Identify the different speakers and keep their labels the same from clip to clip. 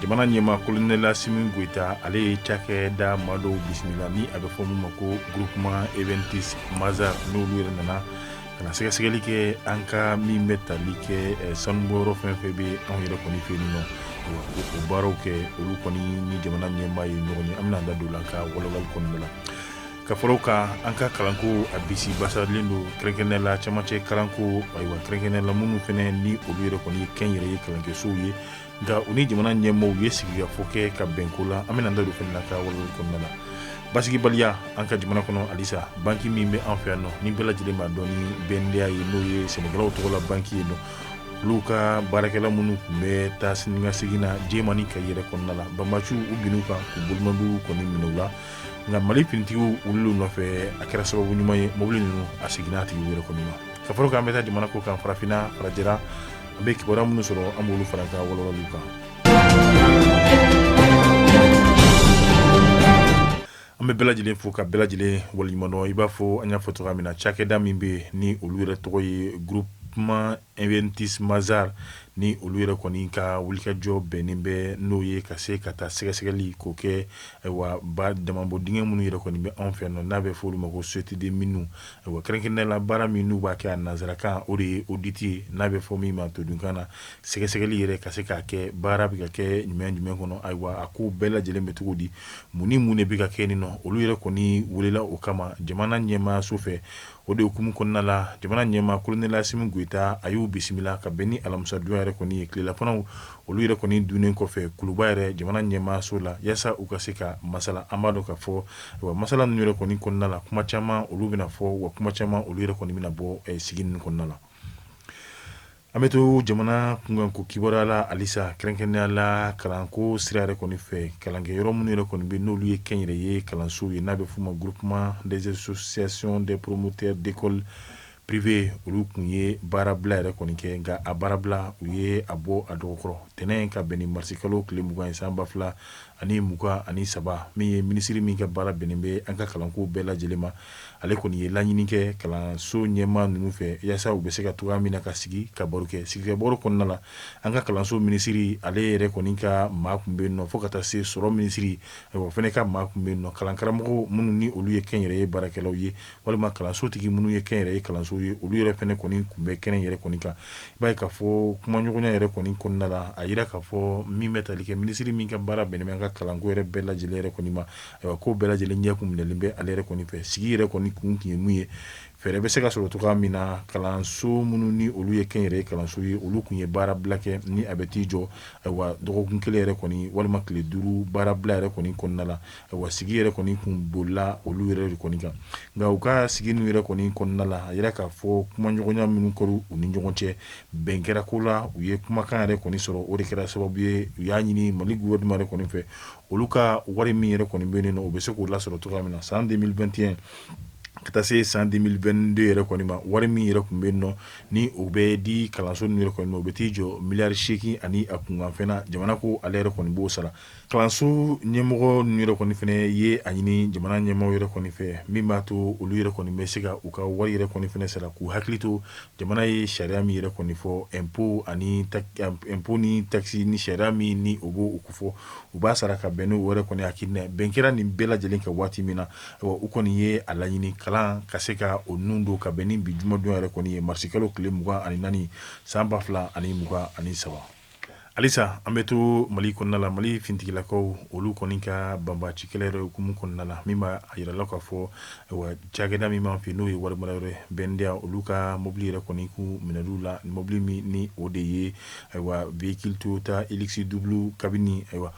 Speaker 1: jamana ɲɛmaa kolonɛl Asimi Goita ale ye cakɛda maa dɔw bisimila ni a bɛ fɔ min ma ko groupement Iventus Mazars n'olu yɛrɛ nana ka na sɛgɛsɛgɛli kɛ an ka min bɛ tali kɛ sanubɔyɔrɔ fɛn fɛn bɛ anw yɛrɛ kɔni fɛ yen nɔ o baaraw kɛ olu kɔni ni jamana ɲɛmaa ye ɲɔgɔn ye an bɛna an da don la ka walawali kɔnɔna la ka fara o kan an ka kalanko a bisi basalen don kɛrɛnkɛrɛnnenya la camancɛ kalanko ayiwa kɛrɛnkɛrɛnnenya la minnu fana ni olu yɛrɛ kɔni ye kɛnyɛrɛye kalankɛsow ye nka u ni jamana ɲɛmaaw ye sigikafɔ kɛ ka bɛnko la an bɛna an da don fɛnɛ la ka walawali kɔnɔna la basigibaliya an ka jamana kɔnɔ halisa banki min bɛ an fɛ yan nɔ ni bɛɛ lajɛlen b'a dɔn ni BNDA ye n'o ye sɛnɛkɛlaw tɔgɔ la banki ye nɔ olu ka baarakɛla minnu tun bɛ taa sini ka segin na Jɛma ni Kayi yɛrɛ kɔnɔna la banbaanciw binn'u kan k'u bolimaduw kɔni minɛ u la nka mali finitigiw wulil'u nɔfɛ a kɛra sababu ɲuman ye mobili ninnu a seginna a tigiw yɛrɛ kɔni ma ka fara o kan an bɛ taa jamana kɔkan farafinna farajɛra An bɛ kibaruya minnu sɔrɔ an b'olu fara an ka walawali kan an bɛ bɛɛ lajɛlen fo ka bɛɛ lajɛlen waliɲumandɔn i b'a fɔ an y'a fɔ cogoya min na cakɛda min bɛ ni olu yɛrɛ tɔgɔ ye groupement Iventus Mazars ni olu yɛrɛ kɔni ka wulikajɔ bɛnnen bɛ n'o ye ka se ka taa sɛgɛsɛgɛli ko kɛ wa ba damanbɔ dingɛ minnu yɛrɛ kɔni bɛ anw fɛ nɔ n'a bɛ fɔ olu ma ko société des mines Wa kɛrɛnkɛrɛnnenya la baara min n'u b'a kɛ a nansarakan o de ye audit ye n'a bɛ fɔ min ma todunkan na sɛgɛsɛgɛli yɛrɛ ka se ka kɛ baara bɛ ka kɛ ɲuman jumɛn kɔnɔ ayiwa a ko bɛɛ lajɛlen bɛ cogo di mun ni mun de bɛ ka kɛ nin nɔ olu yɛrɛ kɔni welela o kama jamana ɲɛmaaso fɛ o de hukumu kɔnɔna la jamana ɲɛmaa kolonɛl Asimi Goita a y'u bisimila ka bɛn ni alamisadon yɛrɛ kɔni ye tilelafanaw olu yɛrɛ kɔni donnen kɔfɛ kuluba yɛrɛ jamana ɲɛmaaso la walasa u ka se ka masala an b'a dɔn ka fɔ wa masala ninnu yɛrɛ kɔni kɔnɔna la kuma caman olu bɛna fɔ wa kuma caman olu yɛrɛ kɔni bɛna bɔ sigi ninnu kɔnɔna la an bɛ to jamana kunkanko kibaruya la halisa kɛrɛnkɛrɛnnenya la kalanko sira yɛrɛ kɔni fɛ kalankɛyɔrɔ minnu yɛrɛ kɔni bɛ n'olu ye kɛnyɛrɛye kalansow ye n'a bɛ f'u ma groupement des associations des promoteurs d'écoles Privées olu kun ye baarabila yɛrɛ kɔni kɛ nka a baarabila u ye a bɔ a dɔgɔ kɔrɔ tɛnɛn in ka bɛn ni marisikalo tile mugan ye san ba fila ani mugan ani saba min ye minisiri min ka baara bɛnnen bɛ an ka kalanko bɛɛ lajɛlen ma ale kɔni ye laɲini kɛ kalanso ɲɛmaa ninnu fɛ walasa u bɛ se ka cogoya min na ka sigi ka baro kɛ sigikabaro kɔnɔna la an ka kalanso minisiri ale yɛrɛ kɔni ka maa kun bɛ yen nɔ fo ka taa se sɔrɔ minisiri o fana ka maa kun bɛ yen nɔ kalankaramɔgɔ minnu ni olu ye kɛnyɛrɛye baarakɛlaw ye walima kalansotigi minnu ye kɛnyɛrɛye kalanso ye olu yɛrɛ fana kɔni tun bɛ kɛnɛ yɛrɛ kɔni kan i b'a ye k'a fɔ kumaɲɔgɔnya yɛrɛ kɔni kɔnɔna la a yira k'a fɔ min bɛ tali kɛ minisiri min ka baara bɛnnen bɛ an ka kalanko yɛrɛ bɛɛ lajɛ lajɛlen yɛrɛ kɔni ma ayiwa ko bɛɛ lajɛlen ɲɛ kun minɛlen bɛ ale yɛrɛ kɔni fɛ sigi yɛrɛ kɔni kun tun ye mun ye fɛɛrɛ bɛ se ka sɔrɔ cogoya min na kalanso minnu ni olu ye kɛnyɛrɛye kalanso ye olu tun ye baarabila kɛ ni a bɛ t'i jɔ ayiwa dɔgɔkun kelen yɛrɛ kɔni walima tile duuru baarabila yɛrɛ kɔni kɔnɔna la Wa sigi yɛrɛ kɔni tun bolila olu yɛrɛ de kɔni kan nka u ka sigi ninnu yɛrɛ kɔni kɔnɔna la a yira k'a fɔ kumaɲɔgɔnya minnu kɛra u ni ɲɔgɔn cɛ bɛn kɛra ko la u ye kumakan yɛrɛ kɔni sɔrɔ o de kɛra sababu ye u y'a ɲini mali gouvernement yɛrɛ kɔni fɛ olu ka wari min yɛrɛ kɔni bɛ yen nɔ u bɛ se k'o lasɔrɔ cogoya min na san 2021 ka taa se san 2022 yɛrɛ kɔni ma wari min yɛrɛ tun bɛ yen nɔ ni o bɛ di kalanso ninnu yɛrɛ kɔni ma o bɛ t'i jɔ miliyari seegin ani a kunkanfɛn jamana ko ale yɛrɛ kɔni b'o sara Kalanso ɲɛmɔgɔ ninnu yɛrɛ kɔni fɛnɛ ye a ɲini jamana ɲɛmɔgɔ yɛrɛ kɔni fɛ min b'a to olu yɛrɛ kɔni bɛ se ka u ka wari yɛrɛ kɔni fɛnɛ sara k'u hakili to jamana ye sariya min yɛrɛ kɔni fɔ impôt ani impôt ni takisi ni sariya min ni o b'o kofɔ u b'a sara ka bɛn n'o yɛrɛ kɔni hakili ma bɛn kɛra nin bɛɛ lajɛlen kan waati min na u kɔni ye a laɲini kalan ka se ka o nun don ka bɛn ni bi jumadon yɛrɛ kɔni ye marisikalo tile mugan ani naani san ba fila ani mugan ani saba Halisa an bɛ to mali kɔnɔna la mali finitigilakaw olu kɔni ka banbaci kɛlɛ yɛrɛ hukumu kɔnɔna la min b'a yira la k'a fɔ cakɛda min b'an fɛ n'o ye warimarayɔrɔ BNDA olu ka mobili yɛrɛ kɔni kun minɛl'u la mobili min ni o de ye ayiwa véhicule Toyota Hilux double cabine ayiwa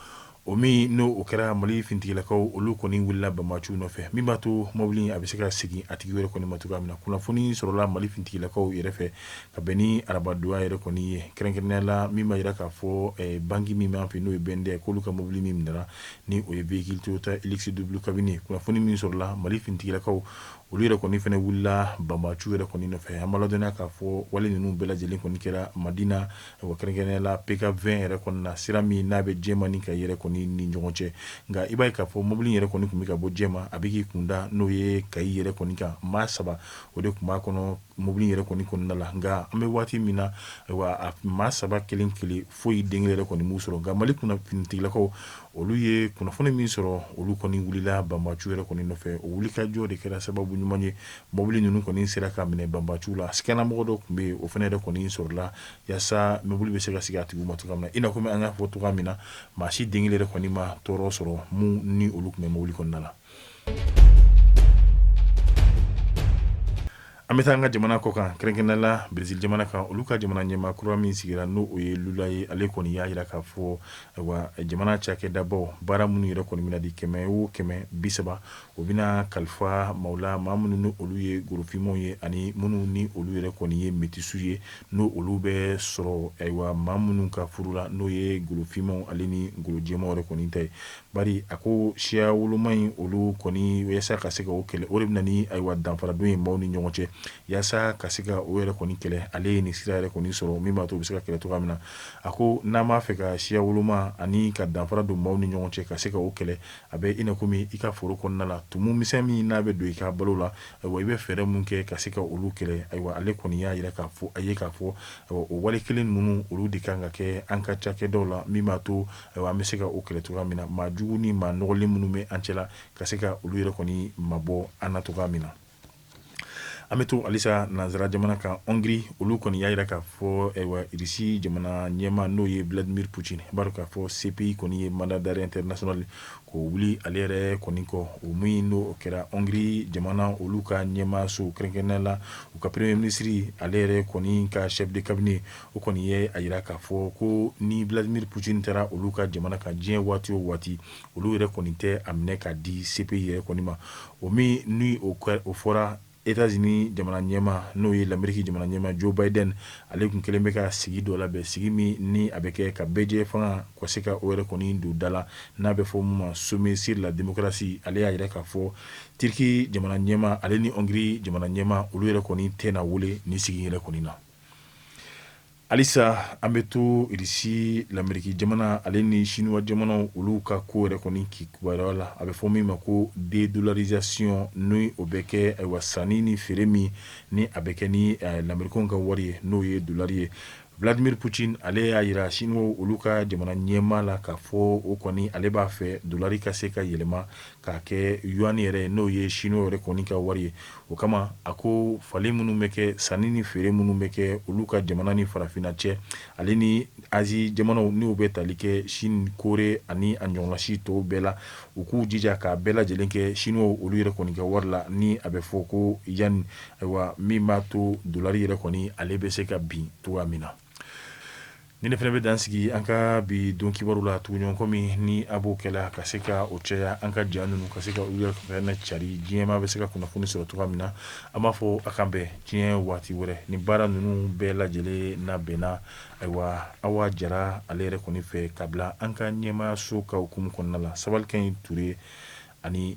Speaker 1: O min n'o o kɛra mali finitigilakaw olu kɔni wulila banbaciw nɔfɛ min b'a to mobili a bɛ se ka segin a tigi yɛrɛ kɔni ma cogoya min na kunnafoni sɔrɔla mali finitigilakaw yɛrɛ fɛ ka bɛn ni arabadon yɛrɛ kɔni ye kɛrɛnkɛrɛnnenya la min b'a jira k'a fɔ banki min b'an fɛ n'o ye BNDA k'olu ka mobili min minɛna ni o ye véhicule Toyota Hilux double cabine kunnafoni min sɔrɔla mali finitigilakaw olu yɛrɛ kɔni fana wulila banbaciw yɛrɛ kɔni nɔfɛ an b'a ladɔnniya k'a fɔ wale ninnu bɛɛ lajɛlen kɔni kɛra madina Wa kɛrɛnkɛrɛnnenya la PK20 yɛrɛ kɔni na sira min n'a bɛ jɛma ni kayi yɛrɛ kɔni ni ɲɔgɔn cɛ nka i b'a ye k'a fɔ mobili yɛrɛ kɔni tun bɛ ka bɔ jɛma a bɛ k'i kun da n'o ye kayi yɛrɛ kɔni kan maa saba o de tun b'a kɔnɔ mobili yɛrɛ kɔni kɔnɔna la nka an bɛ waati min na a maa saba kelen kelen foyi den kelen yɛrɛ kɔni m'u sɔrɔ nka mali kunna finitigilakaw olu ye kunnafoni min sɔrɔ olu kɔni wulila banbaciw yɛrɛ kɔni nɔfɛ o wulikajɔ de kɛra sababu ɲuman ye Mobili ninnu kɔni sera ka minɛ banbaciw la siganamɔgɔ dɔ tun bɛ yen o fana yɛrɛ kɔni sɔrɔla walasa mobili bɛ se ka segin a tigi ma cogo min i n'a kɔmi an y'a fɔ cogo min na maa si den kelen yɛrɛ kɔni ma tɔɔrɔ sɔrɔ minnu ni olu tun bɛ mobili kɔnɔna la an bɛ taa an ka jamana kɔ kan kɛrɛnkɛrɛnnenya la Brésil jamana kan olu ka jamana ɲɛmaa kura min sigira n'o o ye lula ye ale kɔni y'a jira k'a fɔ jamana cakɛdabaw baara minnu yɛrɛ kɔni bɛna di kɛmɛ o kɛmɛ bi saba O bɛna kalifa maaw la maa minnu ni olu ye golofinmaw ye ani minnu ni olu yɛrɛ kɔni ye metisiw ye n'o olu bɛ sɔrɔ ayiwa maa minnu ka furu la n'o ye golofinmaw ale ni golojɛmaw yɛrɛ kɔni ta ye bari a ko siya woloma in olu kɔni walasa ka se ka o kɛlɛ o de bɛ na ni ayiwa danfara don ye maaw ni ɲɔgɔn cɛ walasa ka se ka o yɛrɛ kɔni kɛlɛ ale ye nin sira yɛrɛ kɔni sɔrɔ min b'a to u bɛ se ka kɛlɛ cogoya min na a ko n'an b'a fɛ ka siya woloma ani ka danfara don maaw ni ɲɔgɔn cɛ ka se ka o kɛlɛ A bɛ i na kɔmi i ka foro kɔnɔna la tumu misɛn min n'a bɛ don i ka balo la ayiwa i bɛ fɛɛrɛ mun kɛ ka se ka olu kɛlɛ ayiwa ale kɔni y'a jira k'a fɔ a ye k'a fɔ o wale kelen ninnu olu de kan ka kɛ an ka cakɛdaw la min b'a to ayiwa an bɛ se ka o kɛlɛ cogoya min na maa jugu ni maa nɔgɔlen minnu bɛ an cɛla ka se ka olu yɛrɛ kɔni mabɔ an na cogoya min na an bɛ to halisa nansara jamana kan Hongrie olu kɔni y'a jira k'a fɔ Irisi jamana ɲɛmaa n'o ye Vladimir Putin b'a dɔn k'a fɔ CPI kɔni ye mandat d'arrêt international k'o wuli ale yɛrɛ kɔni kɔ o min n'o kɛra Hongrie jamana olu ka ɲɛmaaso kɛrɛnkɛrɛnnenya la u ka premier ministre ale yɛrɛ kɔni ka chef de cabinet o kɔni ye a jira k'a fɔ ko ni Vladimir Putin taara olu ka jamana kan diɲɛ waati o waati olu yɛrɛ kɔni tɛ a minɛ ka di CPI yɛrɛ kɔni ma o min ni o fɔra États-Unis jamana ɲɛmaa n'o ye lameriki jamana ɲɛmaa Joe Biden ale tun kɛlen bɛ ka sigi dɔ labɛn sigi min ni a bɛ kɛ ka bɛɛjɛfanga ka se ka o yɛrɛ kɔni don da la n'a bɛ fɔ min ma sommet sur la démocratie ale y'a jira k'a fɔ Turki jamana ɲɛmaa ale ni Hongrie jamana ɲɛmaa olu yɛrɛ kɔni tɛna wele nin sigi yɛrɛ kɔni na Halisa an bɛ to irisi lameriki jamana ale ni siniwa jamanaw olu ka ko yɛrɛ kɔni ki kibaruya la a bɛ fɔ min ma ko dédollarisation ni o bɛ kɛ ayiwa sanni ni feere min ni a bɛ kɛ ni lamerikaw ka wari ye n'o ye dolari ye Vladimir Putin ale y'a jira siniwaw olu ka jamana ɲɛmaa la k'a fɔ o kɔni ale b'a fɛ dolari ka se ka yɛlɛma K'a kɛ yuan yɛrɛ ye n'o ye siniwa yɛrɛ kɔni ka wari ye o kama a ko falen minnu bɛ kɛ sanni ni feere minnu bɛ kɛ olu ka jamana ni farafinna cɛ ale ni Azi jamanaw n'o bɛ tali kɛ Sini Kore ani a ɲɔgɔnna si tɔw bɛɛ la u k'u jija k'a bɛɛ lajɛlen kɛ siniwa olu yɛrɛ kɔni ka wari la ni a bɛ fɔ ko yuan ayiwa min b'a to dolari yɛrɛ kɔni ale bɛ se ka bin cogoya min na Ni ne fana bɛ dan sigi an ka bi don kibaru la tuguɲɔgɔn kɔmi ni a b'o kɛ la ka se ka o caya an ka ja ninnu ka se ka u yɛrɛ fana cari diɲɛ maa bɛ se ka kunnafoni sɔrɔ cogoya min na an b'a fɔ a k'an bɛn diɲɛ waati wɛrɛ nin baara ninnu bɛɛ lajɛlen labɛnna ayiwa Awa Jara ale yɛrɛ kɔni fɛ ka bila an ka ɲɛmaayaso ka hukumu kɔnɔna la sabalikɛ in Ture ani